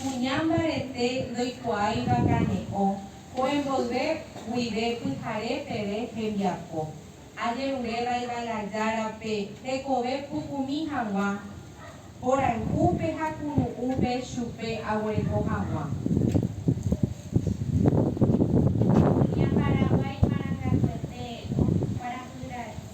Kuña mbarete ndoikuaáiva kane'õ kue mboyve guive pyhare peve hembiapo. Ajerurévaiva la Jára pe tekove pukumi hag̃ua porayhúpe ha kuru'ũpe chupe aguereko hag̃ua. Kuña Paraguái marangatuete kuarahyre.